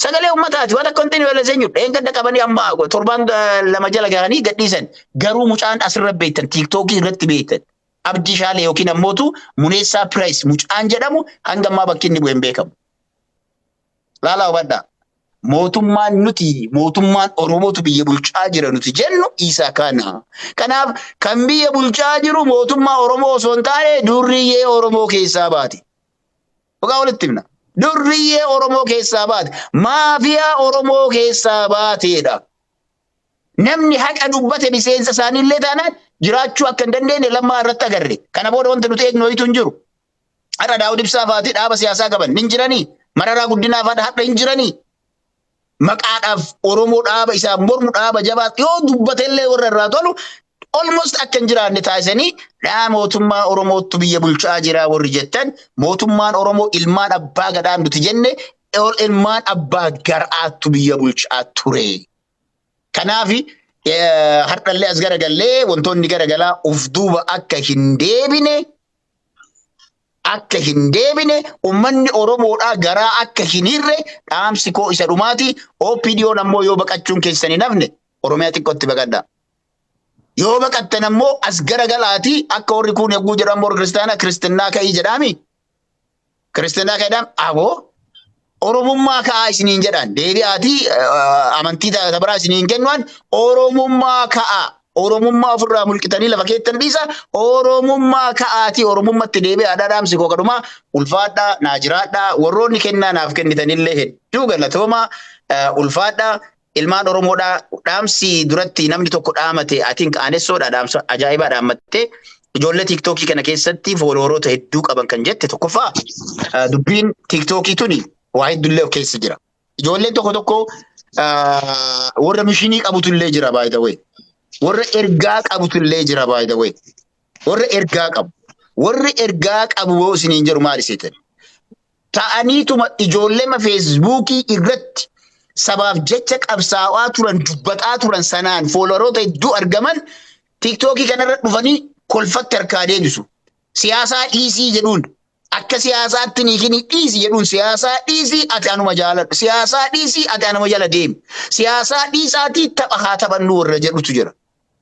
Sagalee ummataati waan akka wanti nu yaalessan jiru. Dheengadda qabanii amma torbaan eh, lama jala gahanii gadhiisan. Garuu mucaan asirra beektan tiiktookii irratti beektan. Abdii Shaalee yookiin ammootu Muneessaa Piraayis mucaan jedhamu hanga ammaa bakki inni bu'e hin beekamu. Laalaa hubadhaa. Mootummaan nuti mootummaan Oromootu biyya bulchaa jira nuti jennu isa kana. Kanaaf kan biyya bulchaa jiru mootummaa Oromoo osoo hin taane durriyyee Oromoo keessaa baati. Dhugaa walitti himna. Durriyyee Oromoo keessaa baate, maafiyaa Oromoo keessaa baateedha. Namni haqa dubbate miseensa isaanii illee taanaan jiraachuu akka hin dandeenye lammaa irratti agarre. Kana booda wanti nuti eegnu ho'itu hin jiru. Har'a Daawud Ibsaa faati dhaaba siyaasaa qaban hin jiranii? Mararaa Guddinaa faadha har'a hin jiranii? maqaadhaaf Oromoo dhaaba isaaf mormu dhaaba jabaa yoo dubbatellee warra irraa tolu almost akka hin jiraanne taasisanii dhaa mootummaa Oromoottu biyya bulchaa jiraa warri jettan mootummaan Oromoo ilmaan abbaa gadaa nuti jenne ol ilmaan abbaa garaattu biyya bulchaa ture. Kanaaf hardhallee as garagallee wantoonni garagalaa of duuba akka hin deebine akka hin deebine ummanni Oromoodhaa garaa akka hin hirre dhaamsi koo isa dhumaati. OPDOn ammoo yoo baqachuun keessan hin hafne Oromiyaa xiqqootti baqadha. Yoo baqattan ammoo as gara galaatii akka warri kuun yagguu jedhamu warri kiristaanaa kiristinnaa ka'ii jedhaami. Kiristiinaa keedhaan aboo Oromummaa ka'aa isiniin jedhaan deebi'aatii amantii taata biraa isiniin kennuan Oromummaa ka'aa Oromummaa ofirraa mulqitanii lafa keettan dhiisa Oromummaa ka'aatii Oromummatti deebi'aa dhaadhaamsi koo kadhumaa ulfaadhaa naa jiraadhaa warroonni kennaa naaf kennitanillee hedduu galatoomaa ulfaadhaa Ilmaan Oromoodhaa dhaamsi duratti namni tokko dhaamate I think aanessoodha dhaamsa ajaa'ibaa dhaammatte. Ijoollee tiiktookii kana keessatti foolooroota hedduu qaban kan jette tokkoffaa ah, dubbiin tiiktookii tuni waa heddullee of keessa jira. Ijoolleen tokko tokko ah, warra mishinii qabutullee jira by the way. Warra ergaa qabutullee jira by the way. Warra ergaa qabu. Warri ergaa qabu yoo isiniin jedhu maal iseetan? ta'aniituma ijoollema feesbuukii irratti sabaaf jecha qabsaa'aa turan dubbataa turan sanaan foolowaroota hedduu argaman tiiktookii kanarra dhufanii kolfatti harkaa deebisu. Siyaasaa dhiisii jedhuun akka siyaasaatti niikinii dhiisi jedhuun siyaasaa dhiisii ati anuma jaaladhu siyaasaa dhiisii ati anuma jala deemi siyaasaa dhiisaatii tapha haa taphannu warra jedhutu jira.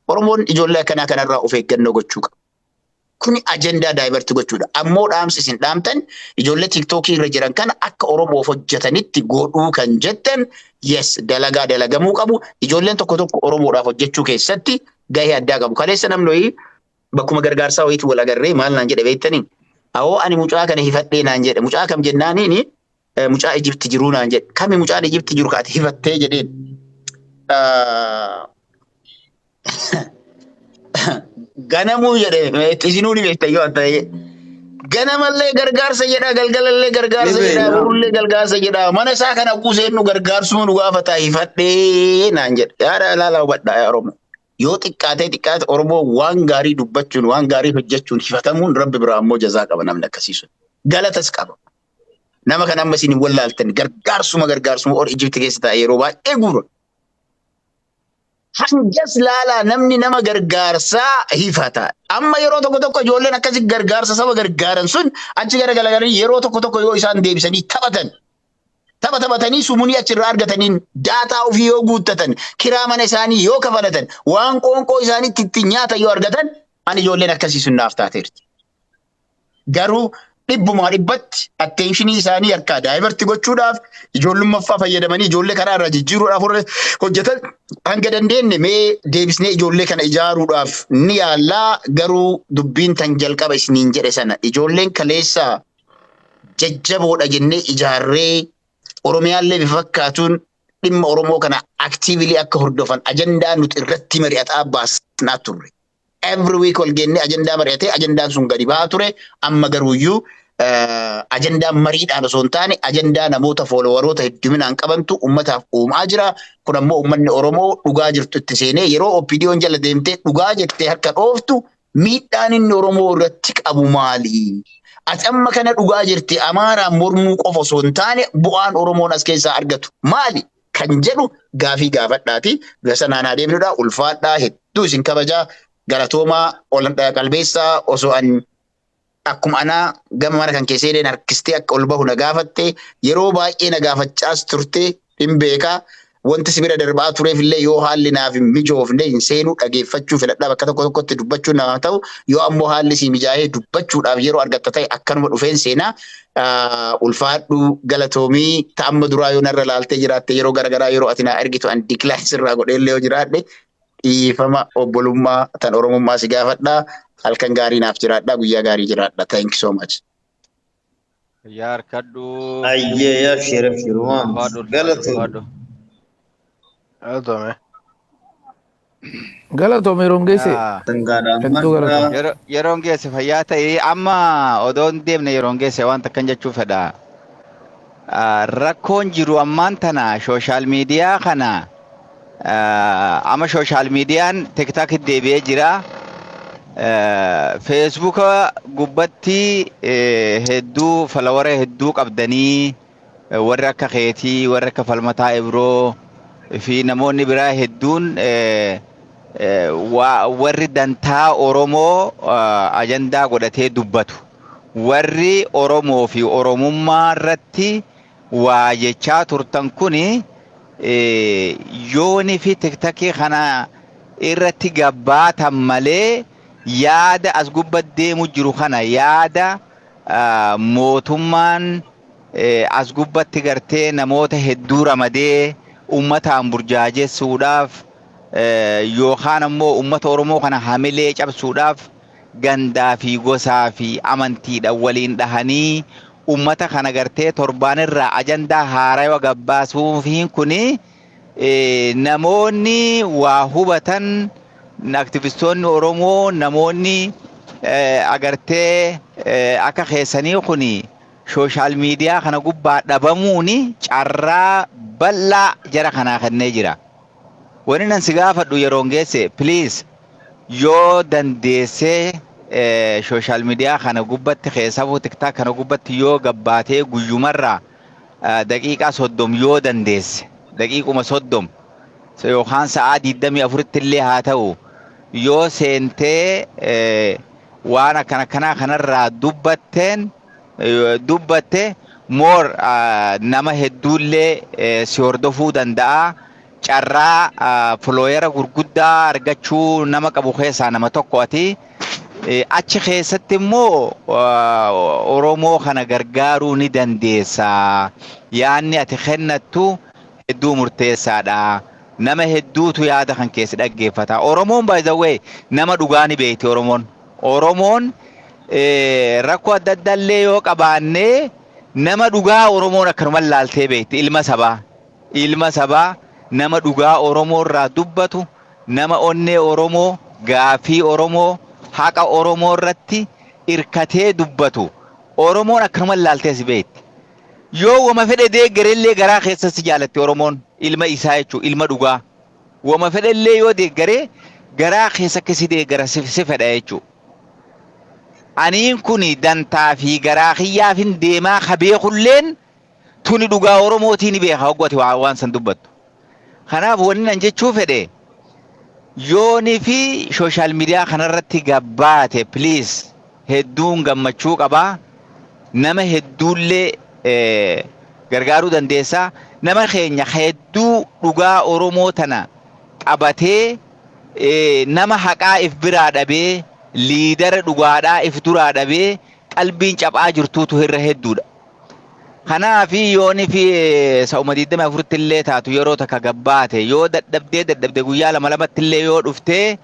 Oromoon ijoollee akkanaa kanarraa of eeggannoo gochuu qaba. Kuni ajandaa daayibarti gochuudha. Ammoo dhaamsi isin dhaamtan ijoollee tiktookii irra jiran kana akka Oromoof hojjetanitti godhuu kan jettan yes dalagaa dalagamuu qabu. Ijoolleen tokko tokko Oromoodhaaf hojjechuu keessatti gahee addaa qabu. Kaleessa namni wayii bakkuma gargaarsaa wayiitu wal agarree maal naan jedhe beektanii? Awoo ani mucaa kana hifadhee naan jedhe. Mucaa kam jennaaniini eh, mucaa Ijipti jiruu naan jedhe. Kami mucaan Ijipti jiru kaati hifattee jedheen. Ah, Ganamuu jedhee itti isinuu ni beektan yoo adda ta'e. Ganamallee gargaarsa jedhaa, galgalallee gargaarsa Ni jedhaa, beekna. borullee gargaarsa jedhaa. Mana isaa kana kuuseen nu gargaarsuu nu gaafataa hifadhee naan jedhe. Yaada ilaalaa hubadhaa yaa Oromoo. Yoo xiqqaatee xiqqaate Oromoo waan gaarii dubbachuun, waan gaarii hojjechuun hifatamuun Rabbi biraa immoo jazaa qaba namni akkasii sun. Galatas qaba. Nama kana amma isin hin wallaaltan gargaarsuma gargaarsuma ol Ijipti keessa taa'e yeroo baay'ee guura. Hangas laalaa namni nama gargaarsaa hiifata. Amma yeroo tokko tokko ijoolleen akkasi gargaarsa saba gargaaran sun achi gara galagalanii yeroo tokko tokko yoo isaan deebisanii taphatan. Tapha taphatanii sumunii achirraa argataniin daataa ofii yoo guuttatan, kiraa mana isaanii yoo kafalatan, waan qoonqoo isaaniitti ittiin nyaatan yoo argatan, ani ijoolleen akkasii sun naaf taateerti. Garuu dhibbumaa dhibbatti atteenshini isaanii akka daayivarti gochuudhaaf ijoollummaffaa fayyadamanii ijoollee karaa irraa jijjiiruudhaaf warra hojjetan hanga dandeenye mee deebisnee ijoollee kana ijaaruudhaaf ni yaallaa garuu dubbiin tan jalqaba isiniin jedhe sana ijoolleen kaleessa jajjaboodha jennee ijaarree Oromiyaallee bifa fakkaatuun dhimma Oromoo kana aktiivilii akka hordofan ajandaa nuti irratti mari'ataa baasnaa turre. every week wal geennee ajandaa mari'atee ajandaan sun gadi ba'aa ture amma garuuyyuu ajandaa mariidhaan osoo hin taane ajandaa namoota foolowaroota hedduminaan qabantu ummataaf uumaa jira. Kun ammoo ummanni Oromoo dhugaa jirtu itti seenee yeroo OPDOn jala deemtee dhugaa jettee harka dhooftu miidhaan inni Oromoo irratti qabu maali? Ati amma kana dhugaa jirti Amaaraan mormuu qofa osoo hin taane bu'aan Oromoon as keessaa argatu maali? kan jedhu gaafii gaafadhaati. Bira sanaan haa deemnudha. Ulfaadhaa hedduu isin kabajaa galatoomaa ol qalbeessaa osoo an akkuma anaa gama mana kan keessee illee harkistee akka ol bahu na gaafatte yeroo baay'ee na gaafachaas turte hin beekaa. Wanti si bira darbaa tureef illee yoo haalli naaf hin mijoofne hin seenuu dhageeffachuu filadhaa bakka tokko tokkotti dubbachuun namaa ta'u yoo ammoo haalli si mijaa'ee dubbachuudhaaf yeroo argatta ta'e akkanuma dhufeen seenaa ulfaadhu galatoomii ta amma duraa yoo narra laaltee jiraatte yeroo garagaraa yeroo ati naa ergitu an diklaas irraa godheellee yoo jiraadhe dhiifama obbolummaa tan oromummaa si gaafadha halkan gaarii naaf jiraadha guyyaa gaarii jiraadha thank you so much. Yaa harkadhu. Ayyee yaa sheera firumaan Ulfaadhu ulfaadhu galatoomi. ulfaadhu. Galatoomi. Galatoomi yeroon geesse. Yaa, Sangaadha Hedduu ammadha. galatoomi. yero- Yeroon geesse fayyaa ta'ee amma odoo hin deemne yeroon geesse waan takkan jechuu fedha. Ah, Rakkoon jiru ammaan tana sooshaal miidiyaa kana ah, amma sooshaal miidiyaan tiktaakii deebi'ee jira. Eh, Feesbuuka gubbatti eh, hedduu falawara hedduu qabdanii Warri akka keetii, warri akka falmataa Ibroo fi namoonni biraa hedduun warri dantaa Oromoo ajandaa godhatee dubbatu. Warri Oromoo fi Oromummaa irratti waa jechaa turtan kun yoonii fi tiktakii kana irratti gabbaatan malee yaada as gubba deemu jiru kana yaada mootummaan as gubbatti gartee namoota hedduu ramadee ummataan burjaajessuudhaaf yookaan ammoo ummata Oromoo kana hamilee cabsuudhaaf gandaa fi gosaa fi amantiidhaan waliin dhahanii ummata kana gartee torbaan irraa ajandaa haarawa gabbaasuufiin kun namoonni waa hubatan aktivistoonni Oromoo namoonni agartee akka keessanii kun sooshaal miidiyaa kana gubbaa dhabamuun carraa bal'aa jara kanaa kennee jira. Wani nan si gaafadhu yeroon geesse please yoo dandeessee eh, sooshaal miidiyaa kana gubbatti keessafuu tiktaak kana gubbatti yoo gabbaatee guyyumarraa eh, daqiiqaa soddom yoo dandeesse daqiiquma soddom yookaan sa'aa 24tti illee haa ta'u yoo seentee waan akkana kanaa kanarraa dubbatteen dubbatte moor nama hedduullee si hordofuu danda'a. Carraa filooyera gurguddaa argachuu nama qabu keessaa nama tokko ati. Achi keessatti immoo Oromoo kana gargaaruu ni dandeessa. Yaanni ati kennattu hedduu murteessaadha. Nama hedduutu yaada kan keessi dhaggeeffata. Oromoon by the way nama dhugaa ni beekti Oromoon. Oromoon eh, rakkoo adda addaa illee yoo qabaannee nama dhugaa Oromoon akkanuma laaltee beekti ilma sabaa. Ilma sabaa nama dhugaa Oromoo irraa dubbatu nama onnee Oromoo gaafii Oromoo haqa Oromoo irratti irkatee dubbatu Oromoon akkanuma laaltee si beekti. Yoo wama fedhe deeggarellee garaa keessatti si jaalatti Oromoon ilma isaa jechuudha ilma dhugaa. Wama fedhellee yoo deeggaree garaa keessatti si deeggara si si fedha jechuudha. Aniin kuni dantaa fi garaa kiyyaafin deemaa ka beekulleen tuni dhugaa Oromootii ni beeka hoggati waa- waan san dubbattu. Kanaaf wanni nan jechuu fedhe yooni fi sooshaal miidiyaa kanarratti gabbaate please hedduun gammachuu qabaa nama hedduullee eh, gargaaruu dandeessa nama keenya ka hedduu dhugaa oromoo tana qabatee eh, nama haqaa if biraa dhabee liidara dhugaadhaa if duraa dhabee qalbiin caphaa jirtuutu irra hedduudha. Kanaafi yoonifi sa'uma 24tti illee taatu yeroo takka gabbaate yoo dadhabdee dadhabde guyyaa lama lamatti illee yoo dhuftee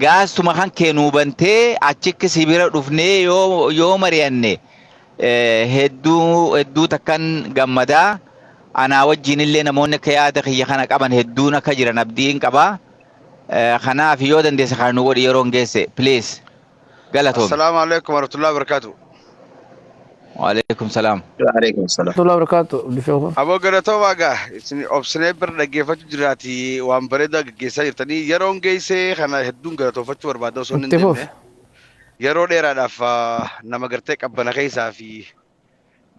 gaastuma kan kee nuu bantee achikki si bira dhufnee yoo yoo mari'anne hedduu hedduu takkan gammadaa anaa wajjin illee namoonni akka yaada kiyya kana qaban hedduun akka jiran abdiin qaba. Kanaaf yoo dandeesse kana nu godhi yeroon geesse please. galatoomi Assalaamu alaikum warahmatullahi wabarakatuh. waaleykum salaam Waaleykum salaam. Tolaa barakaatu Abdi Sheekhu. Aboo galatoomaa gaa isin obsinee bira dhaggeeffachuu jiraati waan bareedaa gaggeessaa jirtanii yeroon geessee kana hedduun galatoofachuu barbaada osoo hin Itti fufi. deemne yeroo dheeraadhaaf ah, nama gartee qabbana keessaa fi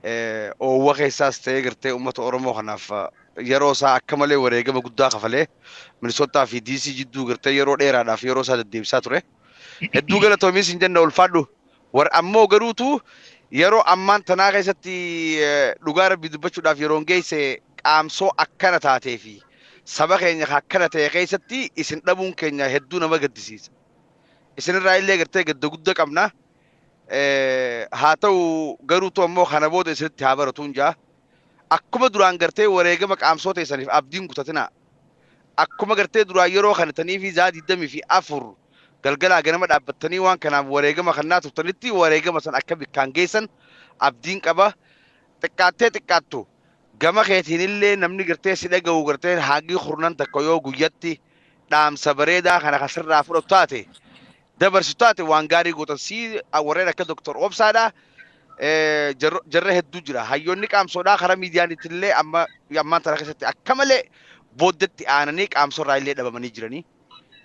eh, oowwa keessaas ta'ee gartee uummata Oromoo kanaaf ah, yeroo isaa akka malee wareegama guddaa kafalee Minisootaa fi DC jidduu gartee yeroo dheeraadhaaf yeroo isaa deddeebisaa ture. Hedduu galatoomi isin jenna ulfaadhu. War ammoo garuutu yeroo ammaan tanaa keessatti eh, dhugaa rabbii dubbachuudhaaf yeroon geesse qaamsoo akkana taatee fi saba keenya kan akkana ta'e keessatti isin dhabuun keenya hedduu nama gaddisiisa. Isinirraa illee gartee gadda guddaa qabna. haa ta'u garuutu ammoo kana booda isinitti haa baratuun jaa akkuma duraan gartee wareegama qaamsoo teessaniif abdiin kutatinaa akkuma gartee duraan yeroo kanatanii fi zaa digdamii fi afur galgalaa ganama dhaabbattanii waan kanaaf wareegama kannaa turtanitti wareegama san akka bikkaan geessan abdiin qaba xiqqaattee xiqqaattu gama keetiin illee namni gartee si dhaga'u gartee haagii kurnan takka yoo guyyatti dhaamsa bareedaa kana kan sirraa fudhatu taate dabarsu taate waan gaarii gootan sii warreen akka Dr. Obsaadha. Eh, jarro- Jarra hedduu jira. Hayyoonni qaamsoodhaa karaa miidiyaaniitti illee amma ammaan tana keessatti akka malee booddetti aananii qaamsorraa illee dhabamanii jiranii.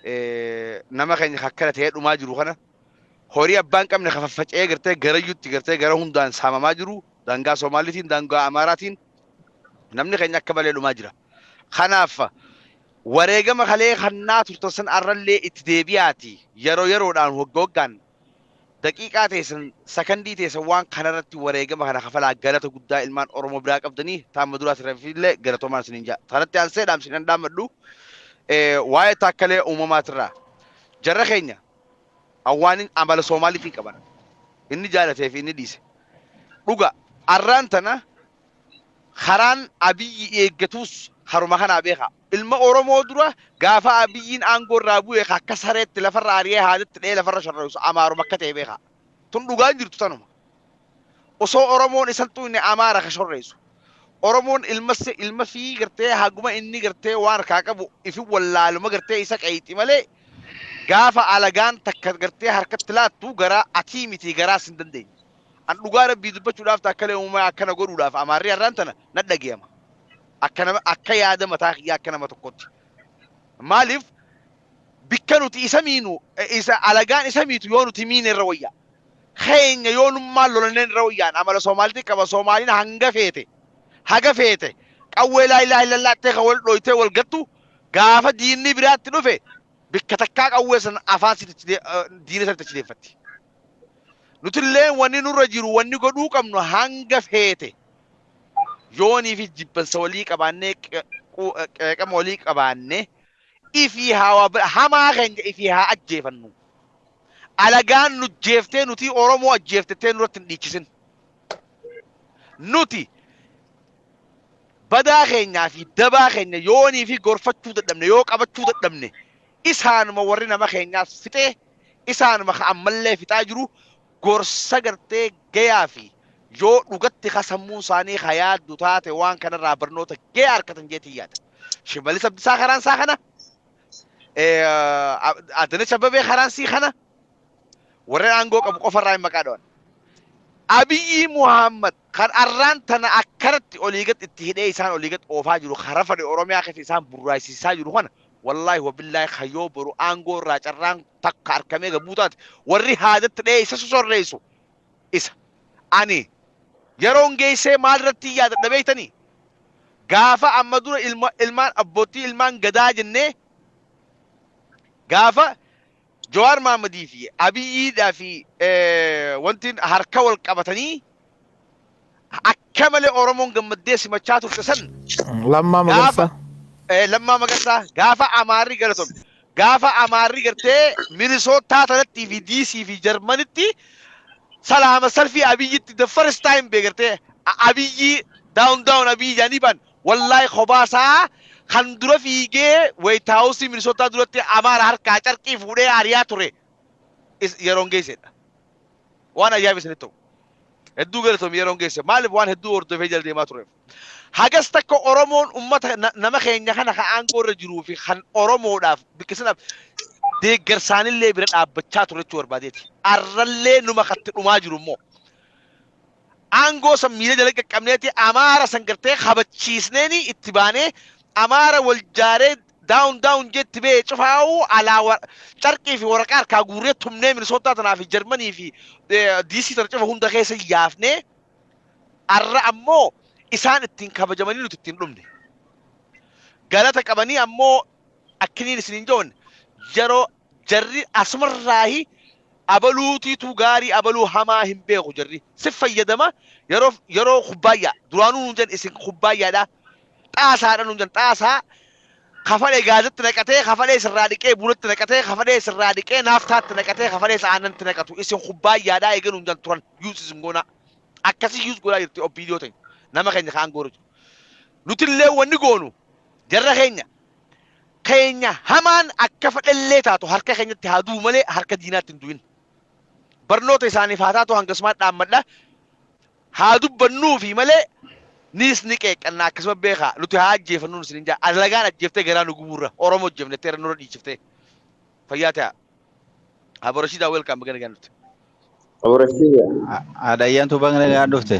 Eh, Nama keenya akkana ta'ee dhumaa jiru kana horii abbaan qabne kan faffaca'ee gartee garayyuutti gartee gara hundaan saamamaa jiru daangaa Somaaliitiin daangaa Amaaraatiin namni keenya akka malee dhumaa jira. Kanaaf Wareegama kalee kannaa turtan san arrallee itti deebi'aatii yeroo yeroodhaan wagga waggaan daqiiqaa teessan sakandii teessan waan kanarratti wareegama kana kafalaa galata guddaa ilmaan Oromoo biraa qabdanii taamma duraa tirafillee galatoomaan isiniin ja'a. Tanatti aansee dhaamsi kan dhaammadhu waa'ee taakkalee uumamaatirraa jarra keenya awwaanin amala Soomaaliitiin qaban inni jaalatee fi inni dhiise dhuga arraan tana Karaan Abiyyi eeggatus karuma kanaa beekaa. Ilma Oromoo dura gaafa Abiyyiin aangoo irraa bu'e ka akka sareetti lafarra ari'ee haadatti dha'ee lafarra sharra'isu Amaaruma akka ta'e beekaa. Tun dhugaan jirtu tanuma. Osoo Oromoon isan xuyne Amaara ka shorreessu. Oromoon ilma se- ilma fii gartee haguma inni gartee waan harkaa qabu ifi wallaaluma gartee isa qeeyxi malee gaafa alagaan takka gartee harkatti laattu garaa atii miti garaas hin dandeenye. An dhugaa Rabbii dubbachuudhaaf taakkalee uumaa akkana godhuudhaaf amaarri har'aan tana na dhagayama. Akka nama akka yaada mataa kiyyaa akka nama tokkotti. Maaliif bikka nuti isa miinu eh, isa alagaan isa miitu yoo nuti miine irra wayyaa. Keenya yoo nummaan lolanneen irra wayyaan amala Soomaalti qaba Soomaaliin hanga feete haga feete qawwee laa ilaaha illallaattee kan wal dhooytee wal gattu gaafa diinni biraatti dhufe bikka takkaa qawwee san afaan sitti achi dee- eh, diina sanitti achi deeffatti. Nutillee wanni nurra jiru wanni godhuu qabnu hanga feete yoonii fi jibbansa walii qabaannee qe- qu- eh, qeeqama walii qabaannee ifii haa waa bira- hamaa keenya ifii haa ajjeefannu. Alagaan nu jeeftee nuti Oromoo ajjeeftettee nurratti hin dhiichisin. Nuti badaa keenyaa fi dabaa keenya yoonii fi gorfachuu dadhabne yoo qabachuu dadhabne isaanuma warri nama keenyaas fixee Isaanuma ka ammallee fixaa jiru gorsa gartee gayaa fi yoo dhugatti ka sammuun isaanii ka yaaddu taate waan kanarraa barnoota gayaa arkatan jeetiin yaada. Shimalis Abdisaa karaan isaa kana, Adanech Abbabee karaan sii kana, warreen aangoo qabu qofarraa hin maqaa dhawan. Abiyyi Muhammad kan arraan tana akkanatti olii gad itti hidhee isaan olii gad oofaa jiru karaa fadhi Oromiyaa keessa isaan burraayisisaa jiru kana Wallahi wabillahi kan yoo boru aangoo irraa carraan takka arkamee gabbuu taate warri haadatti dhahee isa sosorreessu isa. Ani yeroon geessee maal irratti yaadadha beektanii? Gaafa amma dura ilma, ilmaan abbootii ilmaan gadaa jennee gaafa Jawaar Maammadii fi Abiyiidhaa fi wanti harka wal qabatanii akka malee Oromoon gammaddee simachaa turte san Lammaa Magarsaa. eh, Lammaa Magarsaa gaafa Amaarri galatome gaafa Amaarri gartee Minisootaa tanattii fi Diisii fi Jarmanitti salaama salfii Abiyyitti the first time beegartee Abiyyii daawun daawun Abiyyi jaanii baan Wallaay kophaa isaa kan dura fiigee White House Minnesota duratti Amaara harkaa carqii fuudhee ariyaa ture is- yeroon geessedha. Waan ajaa'iba isinitti ta'u. Hedduu galatoomi yeroon geesse. Maaliif waan hedduu hordofee jala deemaa tureef. Hagas takka Oromoon uummata na- nama keenya kana kan aangoo irra jiruu fi kan Oromoodhaaf biqilsinaaf deeggarsaanillee bira dhaabbachaa ture jechuu barbaadeeti. Arrallee numa katti dhumaa jiru immoo. Aangoo san miila jala qaqqabneeti Amaara san gartee kabachiisneeni itti baanee Amaara wal jaaree down down jee itti ba'e cufaa'u alaa wa- carqii fi waraqaa harkaa guurree tumnee Minisootaa tanaa fi Jarmanii fi eh, DC tana cufa hunda keessa yaafnee arra ammoo isaan ittiin kabajamanii nuti ittiin dhumne. Galata qabanii ammoo akkiniin isiniin joon yeroo jarri asumarraahi abaluutiitu gaarii abaluu hamaa hin beeku jarri si fayyadama yeroo yeroo kubbaayyaa duraanuu nuun jedhan isin kubbaayyaadha xaasaadha nuun jedhan xaasaa kafalee gaazatti naqatee kafalee sirraa dhiqee bunatti naqatee kafalee sirraa dhiqee naaftaatti naqatee kafalee aanantti naqatu isin kubbaayyaadha eegee nuun jedhan turan yuus isin goonaa akkasii yuus godhaa jirti obbiidiyoo ta'e nama keenya kaan goora jiru nutillee wanni goonu jarra keenya keenya hamaan akka fedhellee taatu harka keenyatti haa du'u malee harka diinaatti hin du'in. Barnoota isaaniif haa taatu hangasumaan dhaammadha. Haa dubbannuufi malee niis ni qeeqqannaa akkasuma beekaa nuti haa ajjeefannuun isin hin jaa alagaan ajjeeftee garaa nu gubuurra Oromoo ajjeefnettee irra nurra dhiichiftee fayyaa ta'aa. Abo Rashidaa welcome baga nagaan dhufte. Aborashiida. Adayyan tu bang nagaan dhufte.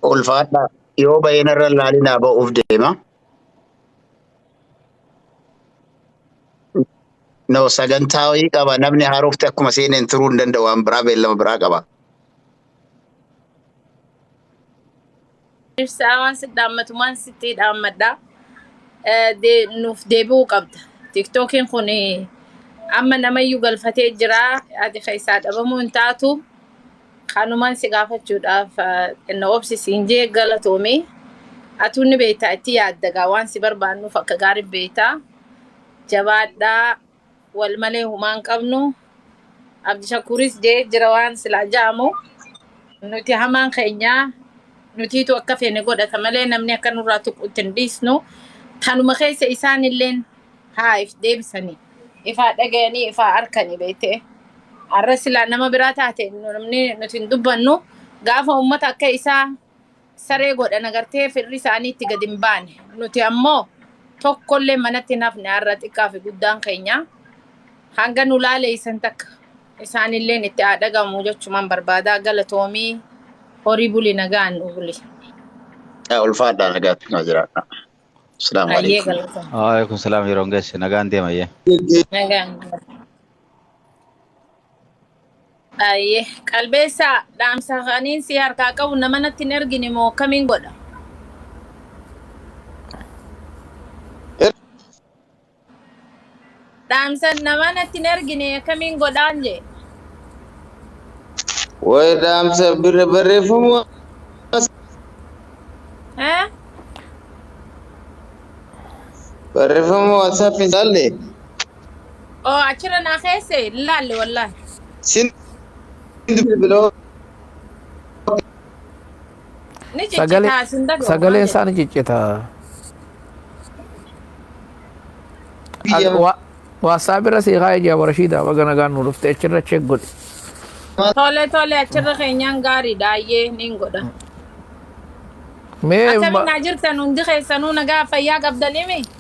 Ulfaadhaa. Yoo baay'een irra laalinaa ba'uuf deema. No sagantaa wayii qaba. Namni haarofti akkuma seeneen turuu hin danda'u. Waan biraa beellama biraa qaba. Ibsaa waan sitti dhaammatu waan sitti dhaammadha. Eh, de- Nuuf deebi'uu qabda. Tiktookiin kun eh, amma namayyuu galfatee jira. Ati keessaa dhabamuu hin taatu. Kanumaan si gaafachuudhaaf eh, xinnoo obsi siin jee galatoomi. Atuu ni beektaa itti yaaddagaa waan si barbaannuuf akka gaarii beektaa. Jabaadhaa. wal malee humaa hin qabnu abdishakuuris jee jira waan silaa ja'amu nuti hamaan keenyaa nutiitu akka feene godhata malee namni akka nurraa tuquutti hin dhiisnu tanuma keessa isaan illeen haa if deebisanii ifaa dhagayanii ifaa arkanii beete arra silaa nama biraa taate namni nuti hin dubbannu gaafa ummata akka isaa saree godhan agartee firri isaanii itti gad hin baane. Nuti ammoo tokkollee manatti hin hafne har'a xiqqaa fi guddaan keenya hanga nu laaleessan takka isaanilleen itti haa dhagahamu jechumaan barbaadaa galatoomii horii buli nagaan nu buli. Yaa ulfaadhaa nagaatti naa jiraadha. Asalaamu Ayyee alaikum. galatoomii. Waalaikum salaam yeroo hin geesse nagaan deema yee. Nagaan. Ayyee qalbeessaa dhaamsa kaniin si harkaa qabu nama natti hin ergine moo akkamiin godha? Er- Dhaamsa nama natti hin ergine akkamiin godhaan jee? Waa'ee dhaamsa bir- barreeffama Eh? barreeffama WhatsApp hin jaalle. Oo achirra naa keesse hin laalle wallahi. Siin biloo Ni Sagalee ciccitaa sin dhagahu maal sagaleen isaa ni jette? ciccita. biyya Waasaap irra sii kaa'ee jira Rashiidaa baga nagaan nu dhufte achirra cheek godhi. Tole tole achirra keenyaan gaariidha ayyee niin godha. Mee Akkamiin naa jirtan hundi keessanuu nagaa fayyaa qabdaniimi?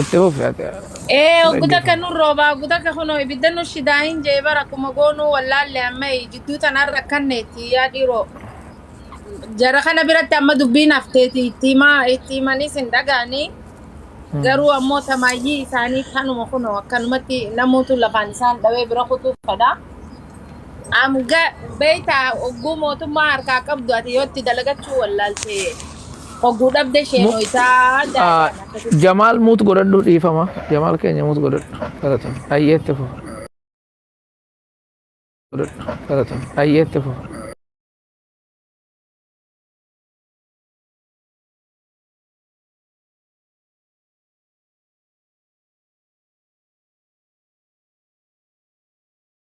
Itti fufi ati Ee hin ogguta akka dhaggeeffamu. nun roobaa ogguta akka kunoo ibidda nu shidaa hin jee bara akkuma goonuu wallaalle amma jidduu tanaan rakkanneetti yaa dhiiroo. Jara kana biratti amma dubbiin hafteeti itti himaa itti himaniis hin dhaga'anii Hmm. garuu ammoo tamaayyii isaanii tanuma kunoo akkanumatti namuutu lafaan isaan dhawee bira kutuu fedha. Am ga beektaa ogguu mootummaa harkaa qabdu ati yoo itti dalagachuu wallaalte ogguu dhabde ishee Mu- nooyitaa Ah, daadhaan akkasitti. Jamaal muut godhadhu dhiifama. Jamaal keenya muut godhadhu. Galatoom. Ayyeetti fufa. Godhadhu. Galatoom. Ayyeetti fufa.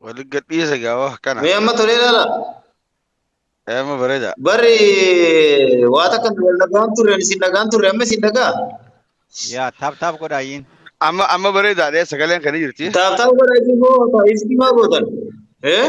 Wali gadhiisa gaawa kana. Mee amma tolee laala. Eema bareeda. Barri waa takka nu wal dhagaan turre ani isin dhagaan turre amma isin dhagaa. Yaa taap taap godhaa yin. Amma amma bareedaadha sagaleen kan jirti. Taaf taaf godhaa isin moo taaf isin maa gootan. Eh?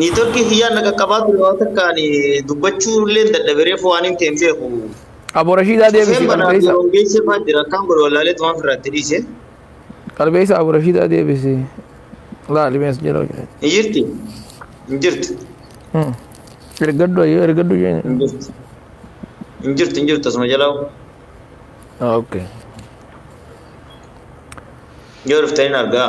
Niitoorkii kiyyaan na qaqqabaa ture waan takka ani dubbachuu illee hin dadhabe reefu waan hin ta'een beeku. Abo Rashiidaa Cufeen deebisi banaa qalbeessa. yeroo geessee fa'aa jira akkaan godhe wallaalee tumaan firraa itti dhiise. Qalbeessa Abo Rashiidaa deebisi. Laali mees jedhoo jedhe. Ni jirti? Hin jirtu. Hmm. Ergaddu ayyoo ergaddu isheen. Hin jirtu. Hin jirtu hin jirtu asuma jalaa Okay. yoo dhuftanii na argaa.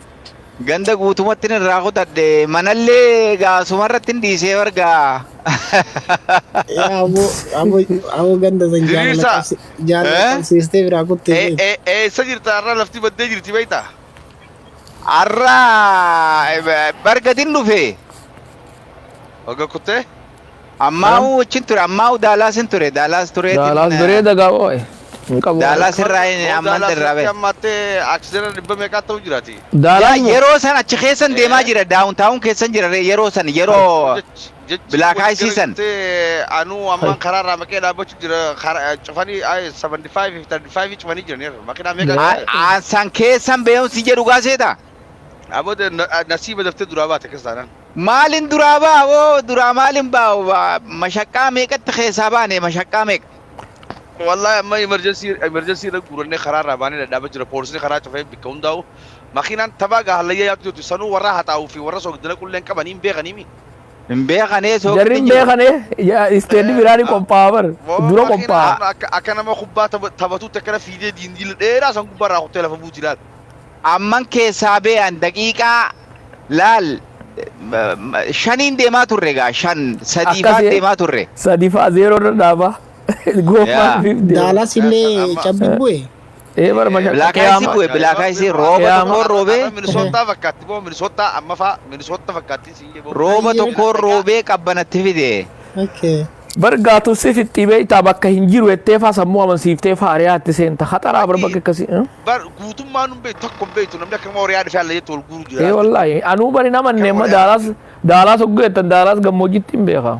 Ganda guutumattin irraa kutadhe manallee egaa asumarrattin dhiisee wargaa. Yaa aboo aboo aboo ganda san jaalala Diriirsaa. qabsi jaalala Eh? qabsiistee biraa kuttee Ee- beektu. ee- Eessa jirta har'a lafti baddee jirti beektaa? Har'a bargadin dhufe. Wagga kuttee? Ammaa'u wajjin ture. Ammaa'u Daalaasin ture. Daalaas tureetiin. Daalaas bareeda gaa oo'e. Hin qabu. Daalaas irraa hin Hoo amman Daalaas irraa irratti ba'e. amma attee aksideena dhibba meeqaa ta'u jiraati? Yaa Daalaan moo? yeroo san achi keessan deemaa Ee. jira. Daawun taawun keessan jira ree yeroo san yeroo Jech- jechi Black wajji Ice gara san. jettee anuu ammaan karaa irraa maqee dhaabbachuu jira karaa- cufanii ay, 75 fi 35 cufanii jiraniiru makiinaa meeqa Ee. a- keessan? aansan keessan beekumsi jedhu gaa seetaa? Aboo de- na- a- nasiiba daftee duraa baate akkas taanaan. Maalin duraa ba'a woo duraa maalin ba'a woo, ba- mashaqqaa meeqatti keessaa baane mashaqqaa meeqa. Wallahi amma emergency emergency irra guurannee karaa irraa baanee dhadhaaba jira. Poolisni karaa cufee bakka hundaa'u. Makiinaan tabaa gaa hallayyaa yaatu jirtu sanuu warra haxaa'uu fi warra soogdina qulleen qabanii hin beekanii mi? Hin beekanee Jarri soogdin hin jiru. beekane isteedii biraa ni qophaa'aa bar. Moo Dura makiinaan qophaa'aa. amma akka akka nama kubbaa taba- taphatuutti akkana fiidee diindiila dheeraa san gubbaa irraa kuttee lafa buuti laata? Amman keessaa bee'an daqiiqaa laal shaniin deemaa turre egaa shan sadii Akkas faan ee. deemaa turre. Sadi faa zeeroo irra dhaaba. Goomaan Yaa. ofiif deema. Daalas illee Amma- cabbi bu'e. Ee bara masha Bilaakaa isii bu'e bilaakaa isii rooba Qiyaama. tokkoon roobee Minisootaa fakkaatti moo Minisootaa amma faa Minisootta fakkaatti siin jee boo. rooba Baay'ee. tokkoon roobee qabbanatti fide. Okay. Bar gaatu si fixxii beektaa bakka hin jiru jettee faa sammuu amansiiftee faa ariyaa itti seenta. Haxaraa bar bakka akkasii. eh? Bar guutummaa nun beektu takka hin beektu namni akka nama horiyaa dhufee alla jettu wal guuru jira. Ee wallaahi anuu bari nama Kan neemma wal daalaas yaadatu. daalaas hogguu jettan daalaas gammoojjitti hin beeka.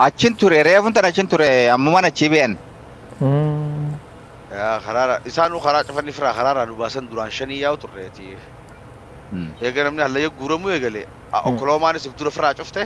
Achin ture reefun tan achin ture ammuman achii beeyan. Mm. Yaa karaara isaanuu karaa cufanii firaa karaarraa nu baasan duraan shanii yaa'u turreeti. Eega namni hallayya guuramuu eegale. Onkoloomaanis if dura firaa cufte.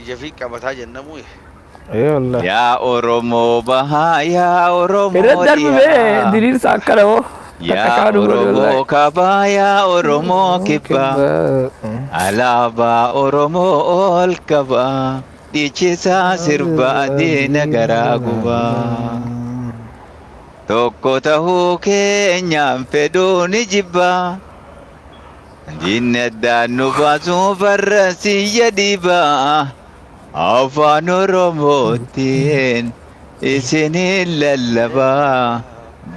Ijafii qabataa jennamuu ye. Ee wallah. Yaa Oromoo bahaa yaa Irra Oromoo darbi bee dhiyaa. diriirsa akkana moo takka Yaa kaanu godhe Oromoo wallaahi. kabaa yaa Oromoo kibbaa. Kibbaa. Alaabaa Oromoo ol qabaa. Dhiichisaa sirba adeena garaa gubaa. Tokko tahuu keenyaan fedhuu ni jibbaa. Diinni addaan nu baasuu farra siyya dhiibaa afaan oromootiin isiniin lallabaa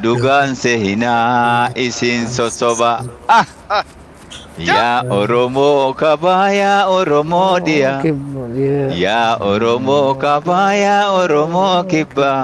dhugaan sehinaa isin sosobaa. Ah! Yaa Oromoo kabaa yaa Oromoo dhiyaa yaa Oromoo kabaa yaa Oromoo kibbaa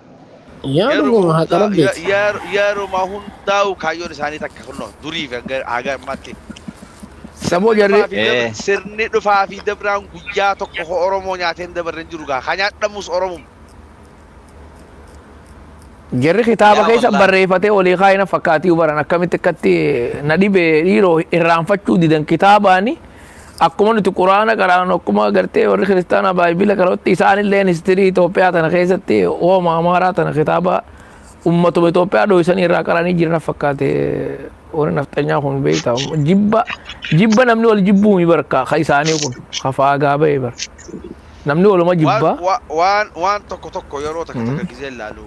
Yaa Yeroo dhuguma haqa hundaa- ya- rabbeeti. yer- yeruma hundaa'u kaayyoon isaanii takka kunno durii fi hanga haga ammaatti Saboo sirni jarri- dhufaa fi Eh. dabra- sirni dhufaa fi dabraan guyyaa tokko ho Oromoo nyaatee hin dabarre hin jiru gaa kan nyaadhamus Oromoo Jarri kitaaba Yaa keessa wallahi. barreeffatee olii kaayina fakkaatii baran akkamitti akkatti na dhibe dhiiroo irraanfachuu didan kitaabaani Akkuma nuti quraana qaraanu akkuma agartee warri kiristaanaa baayibila qarootti isaanillee histirii Itoophiyaa tana keessatti hooma amaaraa tana kitaaba ummatuma Itoophiyaa dho'isanii irraa qaranii jiran fakkaate warri nafxanyaa kun beektaa jibba jibba namni wal jibbuu mi barka ka isaanii kun ka faagaa ba'e bar namni waluma Waan, jibba wa- waan, waan tokko tokko yeroo takka takka gisee ilaalu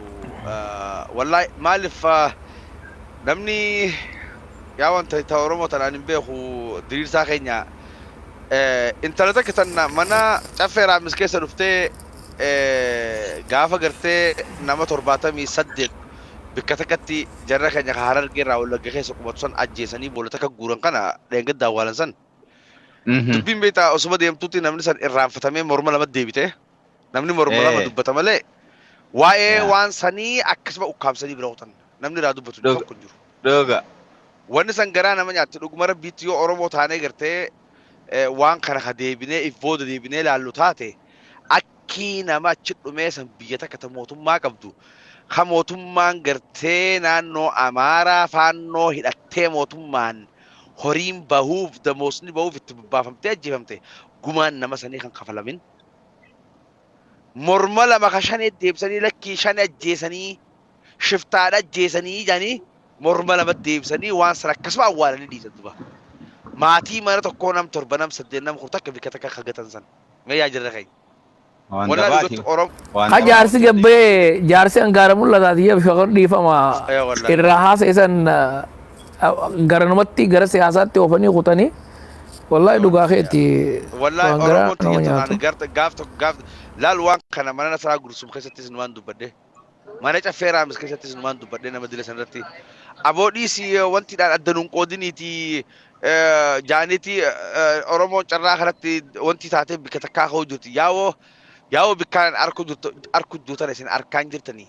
ah, wallahi maaliif ah, namni Yaa wan ta ta oromo tan anin beeku diriirsaa keenya eh, intala takka tan mana caffee raamis keessa dhuftee eh, gaafa gartee nama torbaatamii saddeet bikka takkatti jarra keenya ka harargee irraa wallagga keessa qubatu san ajjeesanii boolla takka guuran kana dheengadda awwaalan san Mhm. dubbiin beektaa osuma deemtuutti namni san irraanfatamee morma lama deebite Namni morma lama Eh. dubbata malee waa'ee Yaa. waan sanii akkasuma ukkaamsanii bira kutan. Namni irraa dubbatu Dhuga. tokko hin jiru. Dhuga. Wanni san garaa nama nyaatti dhuguma rabbiitti yoo Oromoo taanee gartee eh, waan kana ka deebinee if booda deebinee laallu taate akkii nama achi dhumee san biyya takka ta mootummaa qabdu ka mootummaan gartee naannoo Amaaraa faannoo hidhattee mootummaan horiin bahuuf damoosni bahuuf itti bobbaafamtee ajjeefamte gumaan nama sanii kan kafalamin morma lama ka shanee deebisanii lakkii shane ajjeesanii shiftaadha ajjeesanii jedhanii morma lama deebisanii waan sana akkasuma awwaalanii dhiisan duba. Maatii mana tokkoo nam torba nam saddeet nam kudha takka bikka takka kagatan san. Mee yaa jirra keenya. Waan Walaa dabaati. dhugaatti Oromoo. Waan Ha dabaati. jaarsi gabbee jaarsi angaara mul'ataati yaa shakar dhiifama Aywa, wallahi. irraa haasa isan garanumatti gara siyaasaatti oofanii kutanii wallaahi dhugaa keetti Wallaahi waan garaa Oromoon nama tiyya nyaatu. tanaan garta gaaf tokko gaaf laal waan kana mana nasaraa gursum keessattis numaan dubbadhe mana caffee raamis keessattis numaan dubbadhe nama dila sanarratti aboo dhiisi wanti dhaan adda nuun qoodiniiti jaaniiti Oromoon carraa kanatti wanti taatee bikka takkaa ka'uu jirti yaawoo yaawoo bikkaan arku jirtu arku duutan isin arkaan jirtanii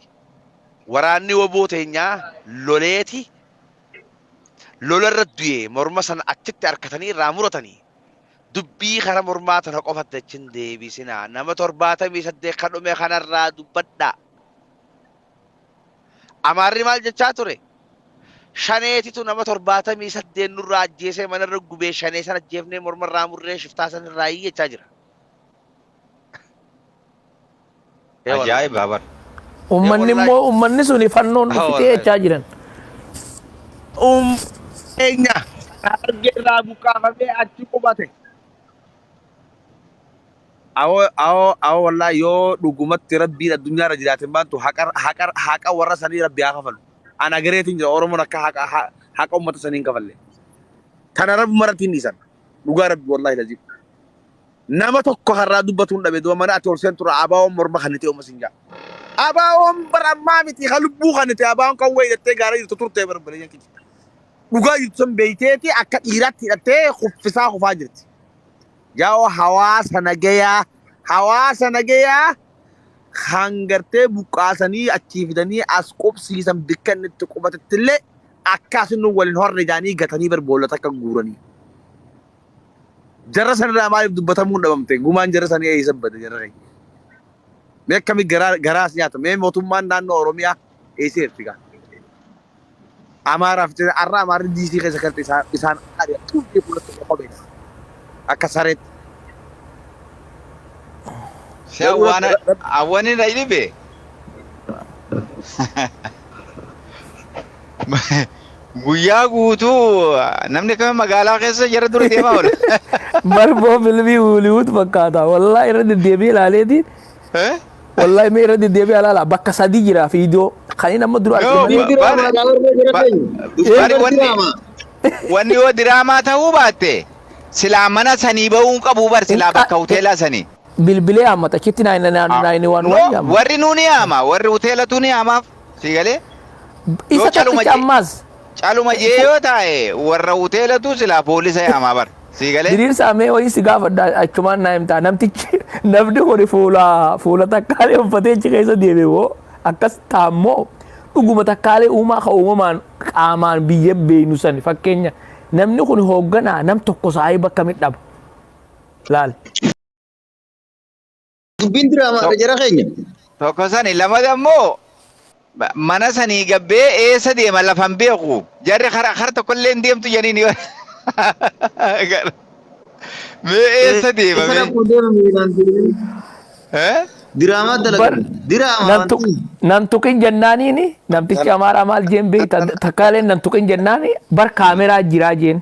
waraanni woboo teenyaa loleeti lola irra du'e morma sana achitti harkatanii irraa muratanii dubbii kara mormaa tana qofatti achin deebisinaa nama torbaatamii saddeet ka dhume kanarraa dubbadhaa. Amaarri maal jechaa ture? Shaneetitu nama torbaatamii saddeet nurraa ajjeesee manarra gubee shanee san ajjeefnee morma irraa murree shiftaa san irraa jechaa jira. Ee wallahi. Ajaa'ibaa bar. Ummanni wallahi. immoo ummanni suni fannoon Ah, dhufitee wallahi. jechaa jiran. Um keenya harargee irraa buqqaafamee achi qubate. Awoo awoo awoo wallaa yoo dhugumatti rabbiin addunyaa irra jiraate maantu haqa haqa haqa warra sanii rabbi haa kafalu. Ana gareetiin jira Oromoon akka haqa ha- haqa uummata sanii hin kafalle. Tana rabbi maratti hin dhiisan. Dhugaa rabbi wallaahi laziim. Nama tokko har'aa dubbatuun dhabe dura mana ati ol seentu irraa abaawoon morma kan nitee umasin jaa. Abaawoon bara ammaa miti kan lubbuu kan nitee abaawoon kan wayii dhattee gaara jirtu turtee bara baleeyyan kiyya. Dhugaa jirtu san beeyteeti akka dhiiraatti hidhattee kuffisaa kufaa jirti. Yaa'oo hawaasa nagayaa hawaasa nagayaa kan gartee buqqaasanii achii fidanii as qubsiisan bikka inni itti qubatetti illee akkaasin nu waliin horre jaanii gatanii bar boolla takka guuranii. Jarra sanirraa maaliif dubbatamuun dhabamte? Gumaan jarra sanii eessa bade jarra keenya? Mee akkami garaa garaa as nyaata? Mee mootummaan naannoo Oromiyaa eessa jirti gaa? Amaaraa fi har'a Amaarri DC keessa kan ta'e isaan isaan ari'a tuutii fuulatti tokko qobeessa. Akka sareetti. Si Garuu rabbi awwaana rabbi awwani na dhibe. Guyyaa guutuu namni akkamiin magaalaa keessa jara dura deemaa oola. Marboo filmii Hooliwuud fakkaata. Wallaahi irra deddeebi'ee ilaaleetiin. Eh? Wallaahi mee irra deddeebi'ee ilaala. Bakka sadii jira fiidiyoo. Kan inni amma dura arge Yoo, malee. Fiilmii diraamaa dha warra jira Ba- keenya. ba- Fiilmii bari wanni- diraamaa. Wanni yoo diraamaa ta'uu baatte silaa mana sanii ba'uun qabu bar silaa Inqa- bakka hoteelaa sanii. Bilbilee hammata. Achitti naayina naayina waan No, waan yaamma. warri nuuni haama warri hoteelatu ni haamaaf. Sii galee? Isa Yoo caluma tokkicha jee- ammaas Caluma jee yoo taa'e warra hoteelatuu silaa poolisa yaamaa bar. Sii galee? diriirsaa mee wayii si gaafadha achumaan naa himtaa namtichi namni kun fuula fuula takkaalee uffatee achi keessa deeme moo akkas taammoo dhuguma takkaalee uumaa ka uumamaan qaamaan biyya beeynu sani fakkeenya namni kun hoogganaa nam tokko saayii bakka midhaba laal Dubbiin diraamaadha jara keenya. Tokko sani lamada immoo ma- mana sanii gabbee eessa deema lafa hin beeku. Jarri kara kara tokkollee hin deemtu janiin yoo. Mee eessa deema Eessa mee? dhaquu deema miilaan deemee? Eh? Diraamaa bar dalagan. Diraamaa nan wanti tuq kun. nan tuqin jennaaniini namtichi amaaraa maal jeen beekta takkaaleen nan tuqin jennaani bar kaameraa jiraa jeen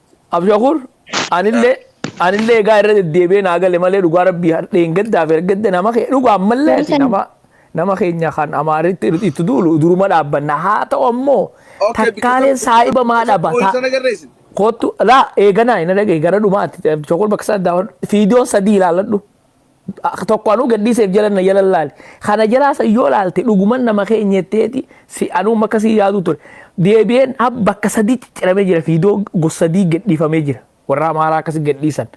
Abshakur anillee anillee egaa irra deddeebi'ee naa gale malee dhugaa rabbii hardheen gaddaa fi ergadda nama kee dhugaa ammallee ati Baratan. nama nama keenya kan amaaritti itti duulu duruma dhaabbanna haa ta'u ammoo Okay, bikka takkaaleen sana saahiba maa dhaba wal taa sana garreessin. kottu laa eeganaa ina dhagee gara dhumaatti abshakur bakka sana daawwadhu fiidiyoon sadii ilaaladhu tokko anuu gadhiiseef jala na jala laali kana jalaa san yoo laalte dhuguman nama kee nyetteeti si anuu makka si yaaduu ture deebi'een ab bakka sadii cicciramee jira fiidoo gos sadii gadhiifamee jira warra amaaraa akkasi gadhiisan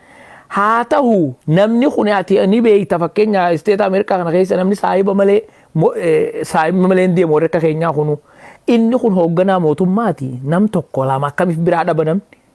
haa tahu namni kun ati ni beeyta fakkeenya isteeta ameerikaa kana keessa namni saahiba malee mo- eh, saahiba malee hin deemu warri akka keenyaa kunu inni kun hoogganaa mootummaati nam tokko lama akkamiif biraa dhaba namni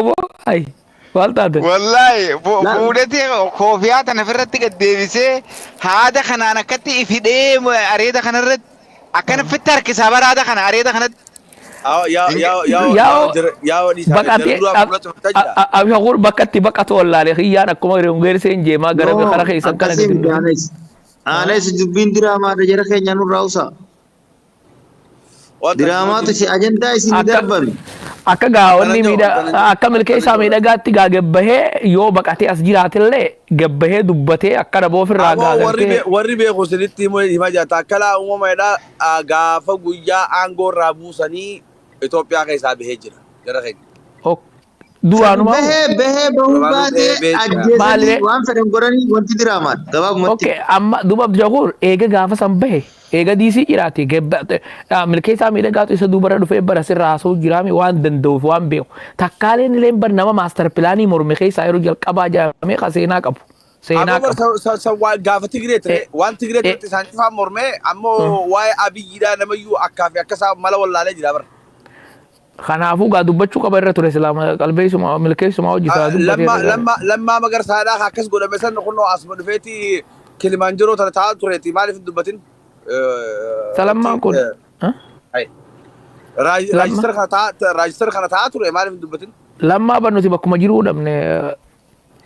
Oboo ayi maal taate? Wallaahi fu- Laal. fuudhatee koofiyaa tana ofirratti gad deebisee haada kanaan akkatti ifidhee areeda kanarratti akkana fitti harkisaa bara haada kana areeda kanatti. Yaa yaa yaa yaa Yaa'oo- yaa jira yaa wadii isaa Baqatee jalduraa fuula cufachaa jira. abshakuun bakkatti baqatu wallaalee kiyyaan akkuma reewungeersee hin jeemaa gara No, kara keessan kana akkasii gadi miti aanes. Aanes dubbiin diraamaa jara keenya nurraa usaa. Diraamaa tisi ajandaa isin Akka- darbame. Akka gaa'onni Kana miidha jedhu, kana- akka milkeessaa kana jedhu. miidhagaatti gaa gabbahee yoo baqatee as jiraatillee gabbahee dubbatee akka dhaboo ofirraa Amoo warri gaagartee bee- warri beeku isinitti himuu hima jata akkalaa uumama jedhaa ah, gaafa guyyaa aangoo irraa buusanii Itoophiyaa keessaa bahee jira jara keenya. ok Kan Duraanuma bahee bahee bahuu Duraanuu baatee bahee bahee jira. ajjeesanii Maalilee? waan fedhan godhanii wanti diraamaan gabaabumatti. Okay, amma duuba Abdushakuur eega gaafa san bahe eega diisii jiraate gabba- dha- milkeessaa miidhagaatu isa duubarra dhufee bara sirra haasa'uu jiraame waan danda'uuf waan beeku takkaaleen illee bar nama maastar pilaanii morme keessaa yeroo jalqabaa jaamee ka seenaa qabu seenaa Amma qabu. sa- sa- sa- waa- gaafa Tigree ture Eh, waan Tigree eh. turetti isaan cufaan mormee ammoo waa'ee abiyyiidhaa namayyuu akkaa fi akka isaa mala wallaalee jira bara. Kanaafuu gaa dubbachuu qaba irra ture silaa ma- qalbeessuma milkeessuma hojii silaa dubbatee irra Lammaa gaarii. lammaa lammaa magarsaadhaa ka akkas godhame san kunoo asuma dhufeeti Kilimaanjaroo tana taa'aa tureeti maaliif hin dubbatin? Isa Wanti lammaan kun ha? ayi. Raaj- lamma raajistara kana taa'aa raajistara kana taa'aa ture maaliif hin dubbatin? lammaa ban nuti bakkuma jiruu dhabne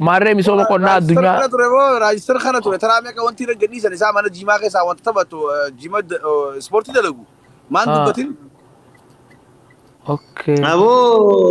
Maarree misooma qonnaa Raajistar addunyaa kana ture moo raajistar kana ture taraa meeqa wanti irra gadhiisan isaa mana jiimaa keessaa wanta taphatu eh, jiima da- eh, ispoortii dalagu maan Ah. dubbatin okay. Aboo